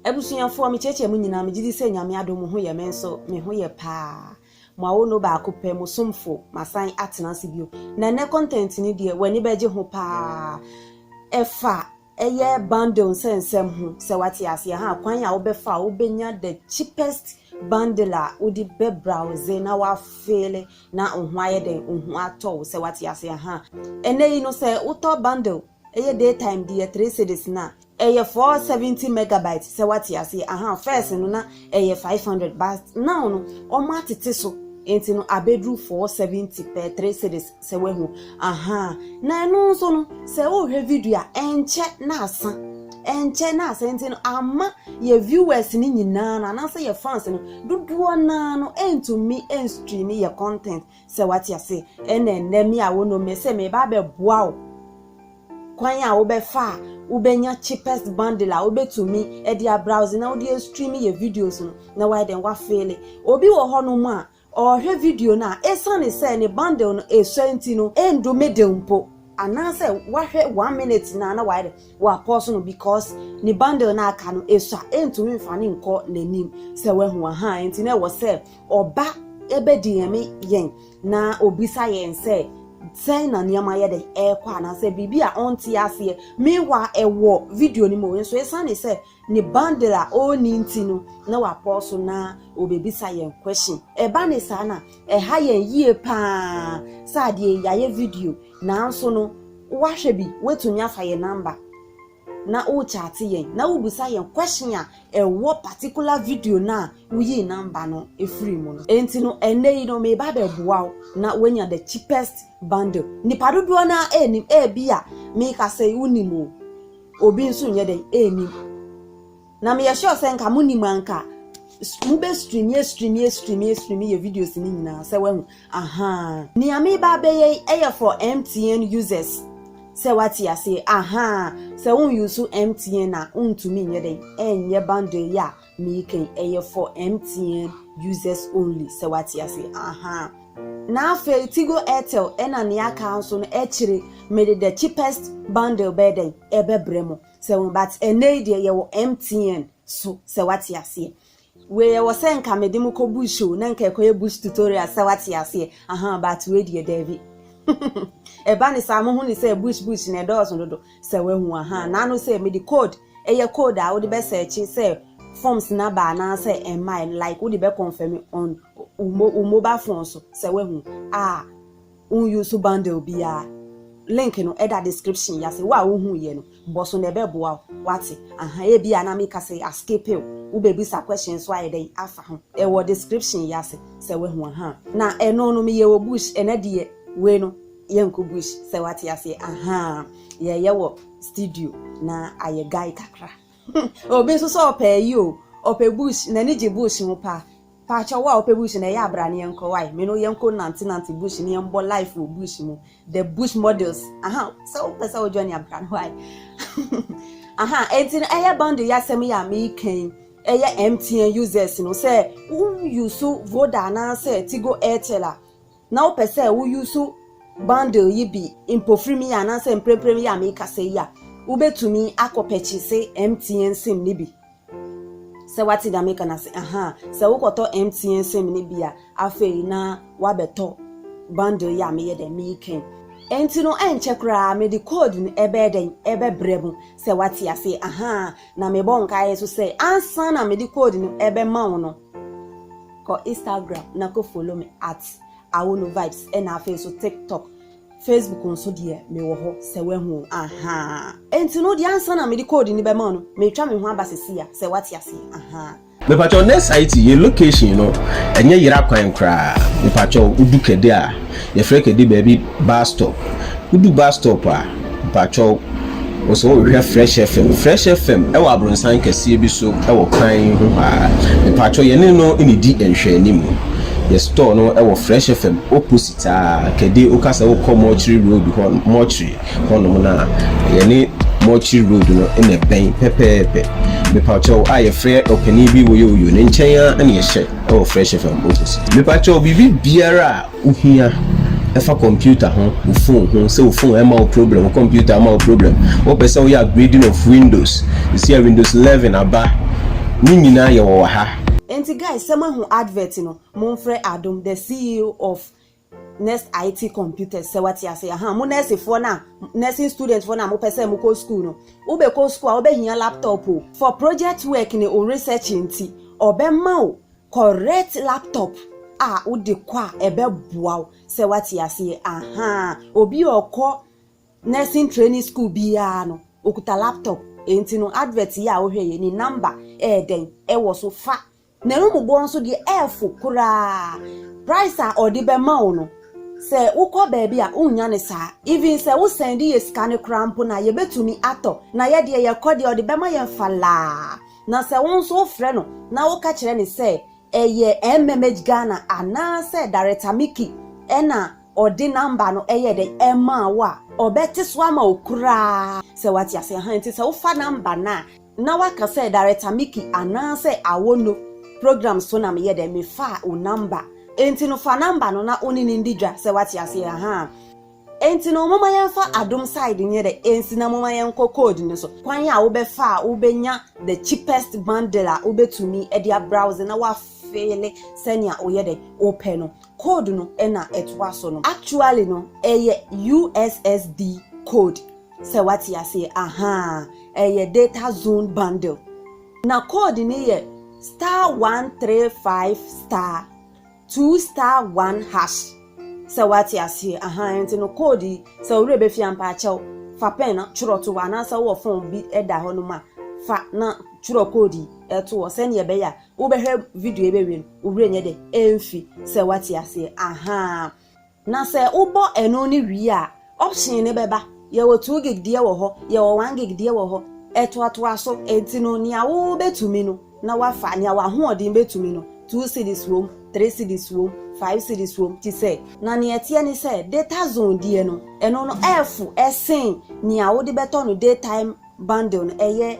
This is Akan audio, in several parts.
Abusuafoɔ, me kyekyɛ mo nyinaa, me gyedi sɛ Nyame adom mo ho yɛ me nso me ho yɛ paa. Mo awono baako pɛ, mo somfo, masan atena ase bio. Na nnɛ content no deɛ w'ani bɛgye ho paa. Ɛfa ɛyɛ bundle nsɛnsɛm ho, sɛ wate aseɛ ha, kwan a wobɛfa a wobɛnya the cheapest bundle a wode bɛ browse na wa feele na wo ho ayɛ dɛn, wo ho atɔ wo, sɛ wate aseɛ ha. Ɛnnɛ yi no sɛ wotɔ bundle Ɛyɛ day time deɛ three cedis na. Ɛyɛ four seventy megabyte sɛ wate aseɛ ahaa first no na ɛyɛ five hundred but now no wɔn atete so nti no abɛduru four seventy pɛ three cedis sɛ wahu ahaa na ɛno nso no sɛ wohwɛ video a ɛnkyɛ na asa ɛnkyɛ na asa nti no ama yɛ viewers no nyinaa no anaasɛ yɛ fans no dodoɔ naa no ɛntumi ɛnstream yɛ content Sɛ wate ase, ɛnna ɛnnɛ me a wonom me sɛ mereba abɛboa wo kwan a wobɛfa a wobɛnya cheapest bundle a wobɛtumi de abrowse na wode astream yɛ videos no na woayɛ dɛn woafeele. Obi wɔ hɔnom a, ɔrehwɛ video no a, esiane sɛ ne bundle no ɛsua nti no, ɛndu middle mpo, anaasɛ wahwɛ one minute no a na wayɛ dɛn woapɔɔso no because ne bundle no a aka no ɛsua, ɛntumi mfa no nkɔ n'anim. Sɛ woahu? Ahaa, enti na ɛwɔ sɛ Ɔba bedi yɛn me yɛn na obisa yɛn sɛ, sɛn na nneɛma yɛ dɛn ɛrekɔ anaasɛ biribi a ɔnte aseɛ. Meanwhile, ɛwɔ video no mu nso, esiane sɛ ne bundle a ɔnni nti no, na wapɔw so na obebisa yɛn question. Ɛba ne saa na ɛha yɛn yie paa sɛ adeɛ yi, yɛayɛ video nanso no, woahwɛ bi, woatumi afa yɛn number. na wo chate yɛn na wo bisa yɛn question a ɛwɔ particular video no a wo yii number no firi mu no. Enti no ɛnnɛ yi no meba abɛboa wo na wanya the cheapest bundle. Nipa dodoɔ no ara ɛnnim, ɛbi a meka sɛ wo nim o, obi nso nyɛ dɛn ɛnnim. Na meyɛ sure sɛ nka mo nim anka mo bɛ stream yɛ stream yɛ stream yɛ stream yɛ videos ni nyinaa sɛ wahu ahaa nea me ba bɛyɛ ɛyɛ for MTN users sɛ wate ase ahaa sɛ won use MTN na wontumi nyɛ dɛn ɛnyɛ bundle yɛ a meekɛn ɛyɛ for MTN users only sɛ wate ase ahaa na afei Tigo Airtel ɛna nea aka nso no ɛkyire mede the cheapest bundle bɛyɛ dɛn ɛbɛbrɛ mo sɛ wo but ɛnɛ yi deɛ yɛwɔ MTN so sɛ wate aseɛ wei ɛwɔ sɛ nka mede mo kɔ bush o na nka ɛkɔyɛ bush tutorial sɛ wate aseɛ aha but wei deɛ daabi ɛba ne saa mo ho ne sɛ bush bush na ɛdɔɔso dodo sɛ wahu aha naano sɛ mede code ɛyɛ code a wode bɛ sɛkye sɛ forms na ba anaasɛ ɛmma like wode bɛ confirm on wo mobile phone so sɛ wahu ah Wo use bundle biara link no ɛda description yi ase. Wo a wo hu yɛ no bɔ so na ɛbɛboa wo wate aha ebia na meka sɛ a skip wo wo bɛbisa question nso ayɛ dɛn afa ho ɛwɔ description yi ase sɛ wahu aha na ɛno no meyɛ wɔ bush ɛnɛ deɛ wei no yɛnkɔ bush sɛ wate aseɛ aha yɛyɛ wɔ studio na ayɛ guy kakra. Obi nso sɛ ɔpɛ ayi o, ɔpɛ bush, n'ani gye bush ho paa. Paakyɛw wo a wopɛ bush na ɛyɛ a bra na yɛnkɔ wae, me ne wo yɛnkɔ nante nante bush na yɛmbɔ life wɔ bush mu, the bush models, aha, sɛ wopɛ sɛ wo join a bra na wae. aha, enti no ɛyɛ bundle yi asɛm yi a meka yi, ɛyɛ MTN users no, sɛ wo use Voda anaasɛ Tigo Airtel a, na wopɛ sɛ wo use bundle yi bi mpofirim yi anaasɛ mpremprem yi a merekasa yi a, wobɛtumi akɔ pɛkyese MTN sim no bi. Sɛ wate deɛ meka no ase? Ahaa. Sɛ wokɔtɔ MTN sim no bi a, afei na wabɛtɔ bundle yi a meyɛ dɛn mereka yi. Enti no ɛnkyɛ koraa mede code no ɛbɛyɛ dɛn ɛbɛbrɛ mo, sɛ wate aseɛ? Ahaa. Na mebɔ nkaeɛ nso sɛ ansa na mede code no ɛbɛma wo no, Kɔ Instagram na kɔ follow me at awoluvibes ɛna afei nso tiktok, facebook nso deɛ me wɔ hɔ sɛ wahu o ahaa. Enti no deɛ ansa na mede code no bɛma wo no meretwa me ho aba seesei a sɛ woate aseɛ ahaa. Mepakyɛw Nurseity yɛn location no ɛnyɛ yera kwan koraa mepakyɛw wodu kɛde a yɛfrɛ kɛde baabi bus stop wodu bus stop a Mpakyɛw, wo sɛ wo hwɛ Fresh FM? Fresh FM wɔ abronsan kɛseɛ bi so wɔ kwan yi ho ha ara. Mpakyɛw yɛne no nnidi nhwɛanim. Yɛ store no wɔ Fresh FM opposite ara, kɛde wo ka sɛ wo kɔ Mortuary Road hɔ, Mortuary hɔ nom no a, yɛne Mortuary Road no na ɛbɛn pɛpɛɛpɛ. Mepakyɛw a yɛ frɛ ɔpanin bi Woyooyo, ne nkyɛn ara na yɛ hyɛ wɔ Fresh FM opposite. Mepakyɛw biribi biara a wohia ɛfa computer ho, wo phone ho, sɛ wo phone ɛma wo problem, wo computer ɛma wo problem, wopɛ sɛ woyɛ upgrading of windows, sisi a windows 11 aba, ne nyinaa yɛwɔ wɔ ha. Enti guys sɛ moahu advert no monfrɛ Adom the CEO of Nest IT computers sɛ wate ase ahaa mo nɛɛsefoɔ no a nursing student foɔ no a mopɛ sɛ mokɔ school no wobɛkɔ school a wobɛhia laptop o for project work ne wo research nti ɔbɛma wo Correct laptop a wode kɔ a ɛbɛboa wo sɛ wate aseɛ ahaa obi a ɔkɔ nursing training school biara no okuta laptop enti no advert yi a wohwɛ yɛ ne number ɛyɛ dɛn ɛwɔ so fa na ɛmubɔ nso deɛ ɛɛfo koraa price a ɔde bɛma wo no sɛ wokɔ baabi a wonnya ne saa even sɛ wosɛn de yɛ sika no koraa mpo no a yɛbɛtumi atɔ na yɛdeɛ yɛkɔ deɛ ɔde bɛma yɛn falaa Na sɛ wo nso wofrɛ no na woka kyerɛ no sɛ ɛyɛ MMH Ghana anaasɛ Director Mickey na ɔde number no yɛɛ dɛn maa wo a, ɔbɛte so ama wo koraa sɛ wate ase. Aha, nti sɛ wofa number no a, na woaka sɛ Director Mickey anaasɛ Awono programme so na meyɛ dɛn, mefaa wo number. Nti no fa number no na wo ne no ndi dwa sɛ wate aseɛ. Aha. Enti no momma yɛmfa adom side nyɛ dɛ ensi na momma yɛnkɔ code no so. Kwan a wobɛfa a wobɛnya the cheapest bundle a wobɛtumi de abrowse na woafeele sɛnea woyɛ dɛ wopɛ no code no na ɛtoa so no. Actually no ɛyɛ ussd code sɛ woate aseɛ ahaa ɛyɛ data zone bundle na code no yɛ star one three five star. Two star one hash sɛ wate aseɛ ahaa nti no code yi sɛ wo werɛ bɛfi a mpaakyɛw fa pɛn na twerɛ to hɔ anaasɛ wowɔ phone bi da hɔ nom a fa na twerɛ code yi to hɔ sɛdeɛ ɛbɛyɛ a wobɛhwɛ video yi bɛwie no wo werɛ nyɛ dɛ ɛmfi sɛ wate aseɛ ahaa. Na sɛ wobɔ ɛno no wie a, option no bɛba, yɛwɔ two gig deɛ wɔ hɔ, yɛwɔ one gig deɛ wɔ hɔ, ɛtoatoa so, enti no nea wobɛtumi no na woafa, nea w'ahoɔden bɛtumi no, two cedis wom, three cedis wom, five cedis wom, te sɛ. Na nea ɛteɛ ne sɛ, Datazone deɛ no, ɛno no ɛɛfo sen nea wode bɛtɔ no daytime bundle no, ɛyɛ.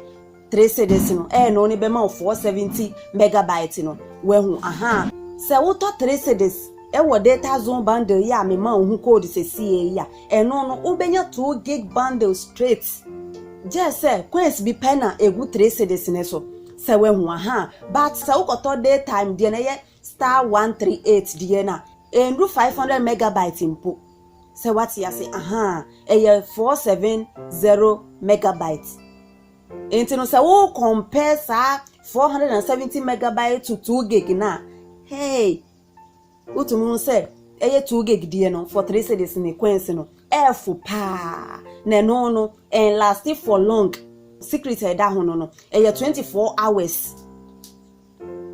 Three cedis no ɛyɛ no ne bɛma wo four seventy megabyte no wahu ahaa sɛ wotɔ three cedis ɛwɔ data zone bundle yi a me ma wo ho code sɛsiee yi a ɛno no wo bɛnya two gig bundle straight gyɛɛ sɛ coins bi pɛ na ɛgu three cedis no so sɛ wahu ahaa but sɛ wokɔtɔ day time deɛ no ɛyɛ star one three eight deɛ no a ɛnru five hundred megabyte mpo sɛ wate ase ahaa ɛyɛ four seven zero megabyte. Nti no sɛ wo compare saa 470 megabyte to 2 gig no a, hey, wotumi hu sɛ ɛyɛ 2 gig deɛ no for 3 cities ne coins no ɛɛfo paa na ɛno no ɛn last for long secret a ɛda ho no no ɛyɛ 24 hours.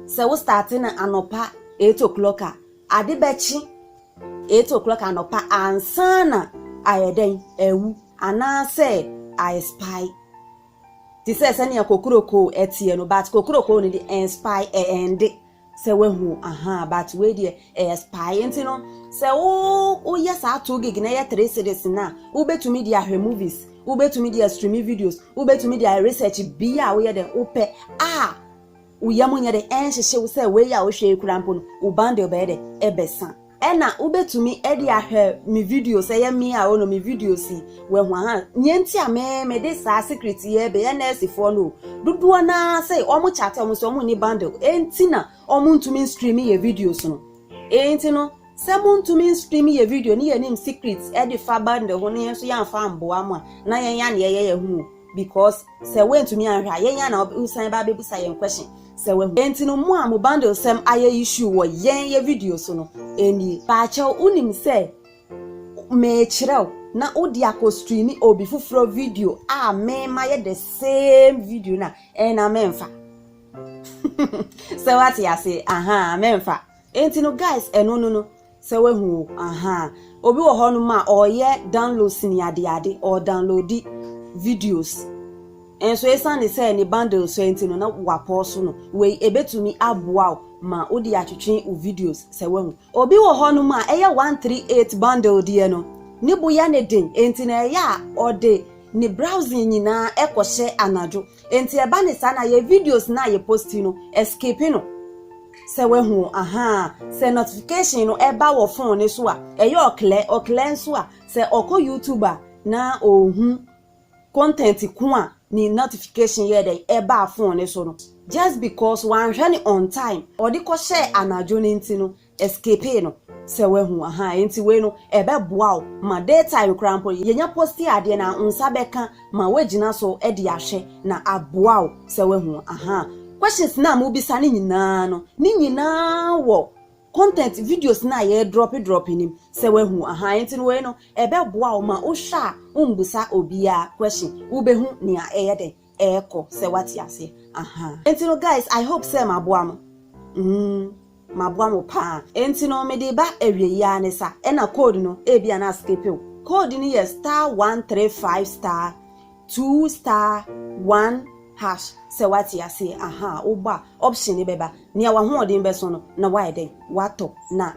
Sɛ wo starte no anɔpa eight o'clock a, ade bɛkye eight o'clock anɔpa ansa na ayɛ dɛn awu anaasɛ aexpire. Te sɛ sɛnea kokurokoo ɛteɛ no, but kokurokoo no de ɛnspire ɛɛnde sɛ wahu ahaa but wei deɛ ɛyɛ spire. Nti no sɛ wo woyɛ saa two gig na ɛyɛ three cedis no a, wobɛtumi de ahwɛ movies, wobɛtumi de astreami videos, wobɛtumi de ayɛ research bia a woyɛ dɛn wopɛ a Wo yam nyɛ dɛ, ɛnhyehye wo sɛ wei a wohwɛ yi koraa mpo no, wo bundle bɛyɛ dɛ ɛbɛsa. Ɛna wobɛtumi de ahwɛ me videos, ɛyɛ me a ɔno me videos yi, wahu aha, neɛ nti a me mede saa secret yi ɛbɛyɛ nɛɛsefoɔ no o, dodoɔ no ara sɛ wɔn chate wɔn sɛ wɔn nni bundle, ɛnti na wɔn ntumi nstream yɛ videos no, ɛnti no. Sɛ mo ntumi nstream yɛ video ne yɛnim secrets de fa bundle ho ne yɛn nso yɛanfa amboa mo a na yɛn a na yɛyɛ yɛn ho o because sɛ woantumi anhwɛ a yɛn a na wosan ba abɛbusa yɛn question sɛ wahu enti no mo a mo bundle sɛm ayɛ issue wɔ yɛn yɛ video so no ɛnie. Paakyɛw wonim sɛ meekyerɛw na wode akɔ stream obi foforɔ video a me mayɛ the same video no a ɛɛ na menfa sɛ woate aseɛ ahaa menfa. Enti no guys ɛno no no sɛ wahu o ahaa obi wɔ hɔ nom a ɔyɛ download sini ade ade ɔɔ downloadi videos nso esiane sɛ ne bundle sɔɛ nti no na wapɔɔso no wei ɛbɛtumi aboa wo ma wo de atwetwe wo videos sɛ wahu. Obi wɔ hɔ nom a ɛyɛ 138 bundle deɛ no ne bo yɛ ne den enti na ɛyɛ a ɔde ne browsing nyinaa ɛkɔ hyɛ anadwo Enti ɛba ne saa na yɛ videos no a yɛ posti no ɛskipi no sɛ wahu ahaa sɛ notification no ɛba wɔ phone no so a ɛyɛ ɔklɛ ɔklɛ nso a sɛ ɔkɔ YouTube a na ɔhu content ko a ne notification yɛ dɛn ɛbaa phone no so no just because wanhwɛ no on time ɔde kɔhyɛɛ anadwo no nti no escapee no sɛ wahu ahaa enti wei no ɛbɛboa wo ma day time koraa mpo yɛnya posti adeɛ no a wo nsa bɛka ma woagyina so de ahwɛ na aboa wo sɛ wahu ahaa questions no a mobisa no nyinaa no ne nyinaa wɔ content videos no a yɛdrɔpe drɔpe no mu sɛ wahu ahaa enti no wei no ɛbɛboa wo ma wohwɛ a wombusa obiara question wobɛhu nea ɛyɛ dɛn ɛɛkɔ sɛ wate aseɛ ahaa. Nti no guys I hope sɛ maboa mo mm maboa mo paa nti no mede ba awieyi ara ne sa ɛna code no ebia na askipe wo code no yɛ star one three five star two star one hash sɛ wate aseɛ ahaa wobɔ a option no bɛba nea wahoɔden bɛso no na wayɛ dɛn watɔ na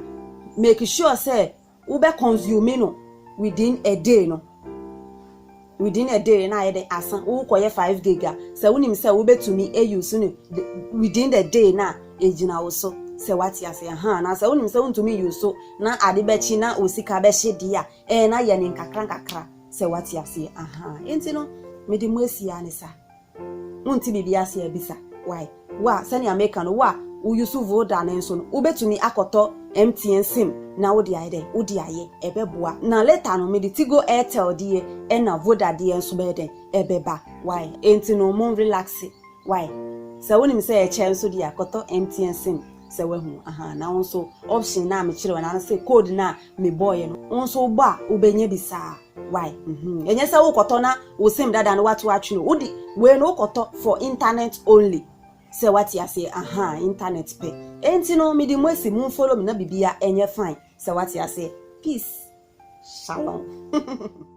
make sure sɛ wo bɛ consume no within a day no within a day na ayɛ dɛ aso wo kɔ yɛ five gig a sɛ wo nim sɛ wo bɛ tumi a use no within the day na egyina wo so sɛ wate ase aha na sɛ wo nim sɛ wo ntumi use na ade bɛkyi na wo sika bɛhye deɛ a ɛɛ na yɛ ne nkakra nkakra sɛ wate ase aha enti no mede mo asi a ne saa. Wonte biribi ase a, bisa. Wai, wo a, sɛnea meka no, wo a wo Yusuf wo da ne nso no, wobɛtumi akɔtɔ MTN sim na wode ayɛ dɛn? Wode ayɛ. Ɛbɛboa. Na later no, mede Tigo Airtel deɛ ɛna Voda deɛ nso bɛyɛ dɛn? Ɛbɛba. Wai, enti no mo relaxe. Wai, sɛ wonim sɛ ɛkyɛ nso deɛ a, kɔtɔ MTN sim. Sɛ woahu? Ahaa, na wo nso option no a mekyerɛɛ wo no, anaasɛ code no a mebɔeɛ no, wo nso wobɔ a, wobɛnya bi saa. Why? Mm-hmm. Enye sɛ wokɔtɔ na wo sim dada no wato atwe no. Wode wei no wokɔtɔ for internet only. Sɛ wate aseɛ, aha, internet pɛ. Enti no mede mu asi mu follow me na bibia ɛnyɛ fine. Sɛ wate aseɛ. Peace. Shalom.